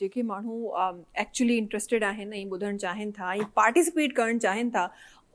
جيڪي ماڻهو actually interested آهن ۽ ٻڌڻ چاهين ٿا ۽ پارٽيسپيٽ ڪرڻ چاهين ٿا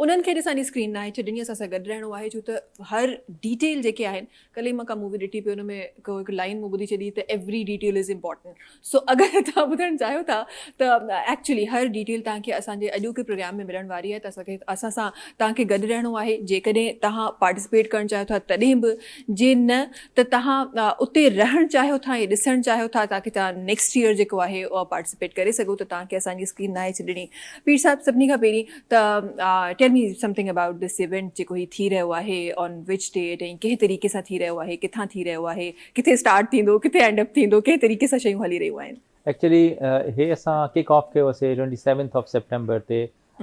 انهن کي اڄ اسان جي اسڪرين ناهي ڇو جن جي اسان سان گڏ رهڻو آهي ڇو ته هر ڊيٽيل جيڪي آهن ڪلهه ئي مان ڪا مووي ڏٺي پئي ان ۾ ڪو هڪ لائين مون ٻڌي ڇڏي ته every detail is important so اگر توهان ٻڌڻ چاهيو ٿا ته ايڪچولي هر ڊيٽيل توهان کي اسان جي اڄوڪي پروگرام ۾ ملڻ واري آهي ته اسان کي اسان سان توهان کي گڏ رهڻو آهي جيڪڏهن توهان پارٽيسپيٽ ڪرڻ چاهيو ٿا تڏهن به جي نه ته توهان اتي رهڻ چاهيو ٿا ۽ ڏسڻ چاهيو ٿا تاڪي توهان نيڪسٽ ييئر جيڪو آهي اها پارٽيسپيٽ ڪري سگهو ته توهان کي اسان جي اسڪيم ناهي ڇڏڻي پير صاحب سڀني کان پهرين ته tell me something about this event جيڪو هي ٿي رهيو آهي آن وچ ڊيٽ ۽ ڪنهن طريقي سان ٿي رهيو آهي ڪٿان ٿي رهيو آهي ڪٿي اسٽارٽ ٿيندو ڪٿي اينڊ اپ ٿيندو ڪنهن طريقي سان شيون هلي رهيون آهن. ايڪچلي هي اسان ڪڪ آف ڪيو هوسي ٽوئنٽي سيونٿ آف سيپٽمبر تي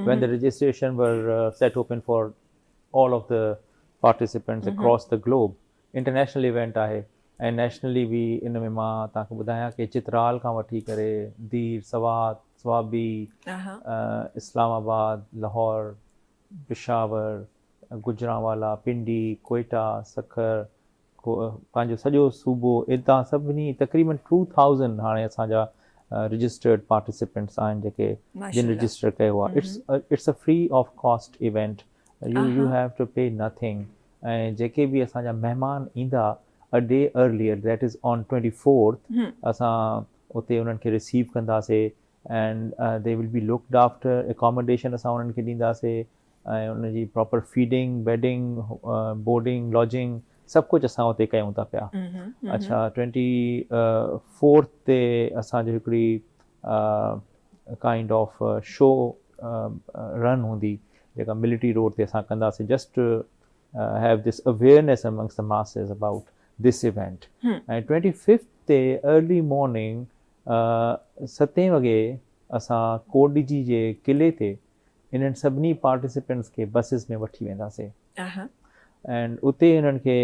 when the registration were set open for all of the participants across the globe international event آهي ۽ نيشنلي به ان ۾ مان توهان کي ٻڌايان ڪي چترال کان وٺي ڪري دير، سوات، صوابي، اسلام آباد، لاهور، پشاور، گجرانوالا، پنڊي، ڪوئيٽا، سکر، هوء پنهنجو سڄو صوبو اتان سڀني تقريبن ٽو ٿائوزنڊ هاڻي اسان جا رجسٽرڊ پارٽيسپينٽس آهن جيڪي جن رجسٽر ڪيو آهي it's a free of cost event you you have to pay nothing ۽ جيڪي به اسان جا مهمان ايندا ا D earlier date is on twenty fourth اسان اتي انهن کي رسيو ڪنداسي and they will be locked after accommodation اسان انهن کي ڏينداسي ۽ ان جي proper feeding, bedding, boarding, lodging سڀ ڪجهه اسان اتي ڪيون ٿا پيا. اڇا ٽوئنٽي فورٿ تي اسان جو هڪڙي ڪائنڊ آف شو رن هوندي جيڪا ملٽري روڊ تي اسان ڪنداسين just have this awareness amongst the masses about this event ۽ twenty fifth تي ارلي مارننگ ستين وڳي اسان ڪوٽ ڊي جي جي قلعي تي انهن سڀني پارٽيسپنٽس کي بسز ۾ وٺي وينداسي اينڊ اتي انهن کي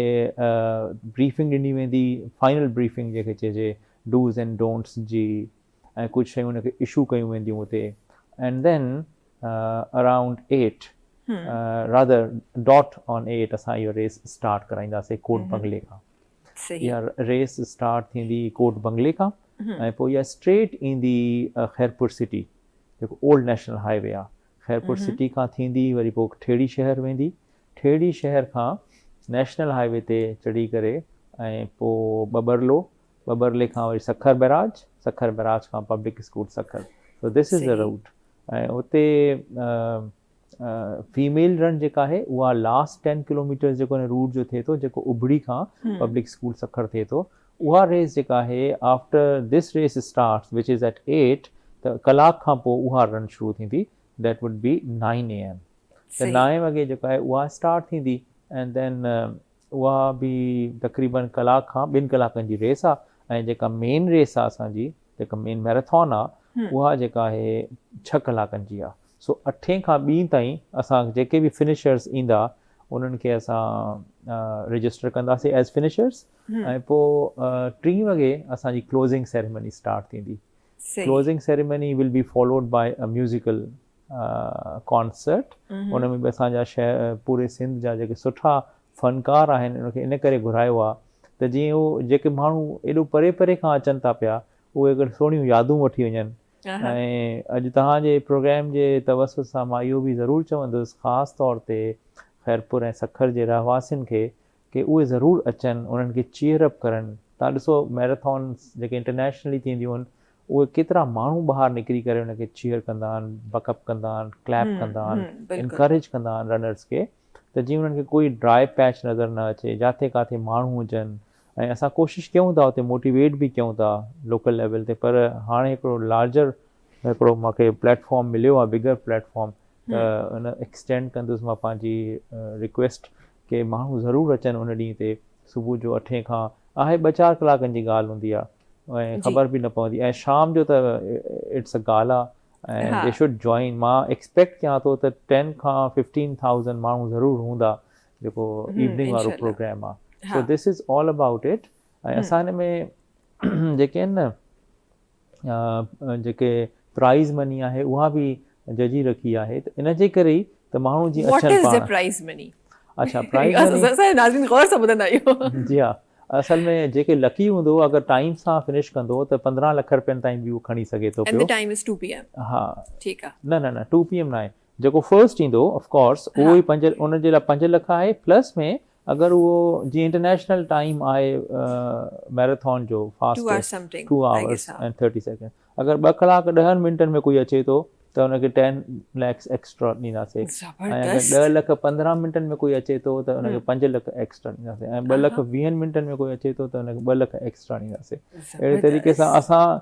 بريفنگ ڏني ويندي فائنل بريفنگ جنهن کي چئجي ڊوز اينڊ ڊونٽس جي ۽ ڪجهه شيون انهن کي اشو ڪيون وينديون اتي and then around eight rather dot on eight اسان اهو ريس اسٽارٽ ڪرائينداسي ڪورٽ بنگلي کان اها ريس اسٽارٽ ٿيندي ڪورٽ بنگلي کان ۽ پوء اها اسٽريٽ ايندي خيرپور سٽي جيڪو اولڊ نيشنل هاء وي آهي خيرپور سٽي کان ٿيندي وري پوء ٺيڙهي شهر ويندي ٺيڙهي شهر کان نيشنل هاء وي تي چڙهي ڪري ۽ پوء ٻٻرلو ٻٻرلي کان وري سکر بئراج سکر بئراج کان public school Sukkur so this is the route ۽ اتي فيميل رن جيڪا آهي اها لاسٽ ٽين ڪلوميٽرز جيڪو هن روٽ جو ٿئي ٿو جيڪو ابڙي کان پبلڪ اسڪول سکر ٿئي ٿو اها ريس جيڪا آهي after this race starts which is eight eight ته ڪلاڪ کان پوء اها رن شروع ٿيندي that would be nine A M ته نائين وڳي جيڪا آهي اها اسٽارٽ ٿيندي اينڊ ڌين اها به تقريبن ڪلاڪ کان ٻن ڪلاڪن جي ريس آهي ۽ جيڪا مين ريس آهي اسان جي جيڪا مين ميراٿون آهي اها جيڪا آهي ڇهه ڪلاڪن جي آهي سو اٺين کان ٻين تائين اسان جيڪي به فنشرز ايندا انهن کي اسان رجسٽر ڪنداسين ايز فنشرز ۽ پو ٽين وڳي اسان جي ڪلوزنگ سيريمني اسٽارٽ ٿيندي closing ceremony will be followed by a musical concert ان ۾ به اسان جا شهر پوري سنڌ جا جيڪي سٺا فنڪار آهن ان کي ان ڪري گهرايو آ ته جيئن هو جيڪي ماڻهو ايڏو پري پري کان اچن ٿا پيا اهي اگر سهڻيون يادون وٺي وڃن اها. ۽ اڄ توهان جي پروگرام جي توسط سان مان اهو به ضرور چوندس خاص طور تي خيرپور ۽ سکر جي رهواسين کي ڪي اهي ضرور اچن انهن کي چيئر اپ ڪرن توهان ڏسو ميراٿونس جيڪي انٽرنيشنلي ٿينديون آهن اهي ڪيترا ماڻهو ٻاهر نڪري ڪري ان کي چيئر ڪندا آهن بڪ اپ ڪندا آهن ڪليپ ڪندا آهن انڪريج ڪندا آهن رنرس کي ته جيئن انهن کي ڪوئي ڊرائي پيچ نظر نه اچي جاٿي ڪاٿي ماڻهو هجن ۽ اسان ڪوشش ڪيون ٿا اتي موٽيويٽ به ڪيون ٿا لوڪل ليول تي پر هاڻي هڪڙو لارجر هڪڙو مان کي پليٽ فارم مليو آهي بگر پليٽ فارم ته ان ايڪسٽينڊ ڪندس مان پنهنجي رڪويسٽ ڪي ماڻهو ضرور اچن ان ڏينهن تي صبح جو اٺين کان آهي ٻه چار ڪلاڪن جي ڳالهه هوندي آهي ۽ خبر به نه پوندي ۽ شام جو ته it's a gala ۽ they should join مان ايڪسپيڪٽ ڪيان ٿو ته ٽين کان ففٽين ٿائوزنڊ ماڻهو ضرور هوندا جيڪو ايوننگ وارو پروگرام آ so this is all about it ۽ اسان هن ۾ جيڪي آهن نه جيڪي پرائز مني آهي اها به ججي رکي آهي ته ان جي ڪري ئي ته ماڻهو جي اڇل پاڻ what is the prize money اڇا پرائز مني اسان اسان جي ناظرين غور سان ٻڌندا اهو جي ها اصل ۾ جيڪي لڪي هوندو اگر ٽائيم سان فنش ڪندو ته پندرهن لک رپين تائين به هو کڻي سگهي ٿو پيو and the time is two P M ها ٺيڪ آ نه نه نه ٽو پي ايم ناهي جيڪو فرسٽ ايندو آف ڪورس اهو ئي پنج ان جي لاء پنج لک آهي پلس ۾ اگر اهو جي انٽرنيشنل ٽائيم آهي ميراٿون جو fast two hours and thirty second اگر ٻه ڪلاڪ ڏهن منٽن ۾ ڪوئي اچي ٿو ته ان کي ٽين ليڪس ايڪسٽرا ڏينداسي ۽ اگر ڏهه لک پندرهن منٽن ۾ ڪوئي اچي ٿو ته ان کي پنج لک ايڪسٽرا ڏينداسي ۽ ٻه لک ويهن منٽن ۾ ڪوئي اچي ٿو ته ان کي ٻه لک ايڪسٽرا ڏينداسي اهڙي طريقي سان اسان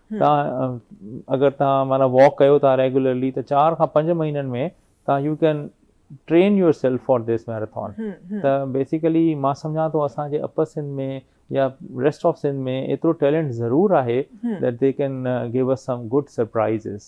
تان اگر تان معنيٰ واڪ ڪيو ٿا ريگولرلي ته چار کان پنج مهينن ۾ تان you can train yourself for this marathon ته بيسيڪلي مان سمجهان ٿو اسان جي اپر سنڌ ۾ يا ريسٽ آف سنڌ ۾ ايترو ٽيلنٽ ضرور آهي that they can give us some good surprises.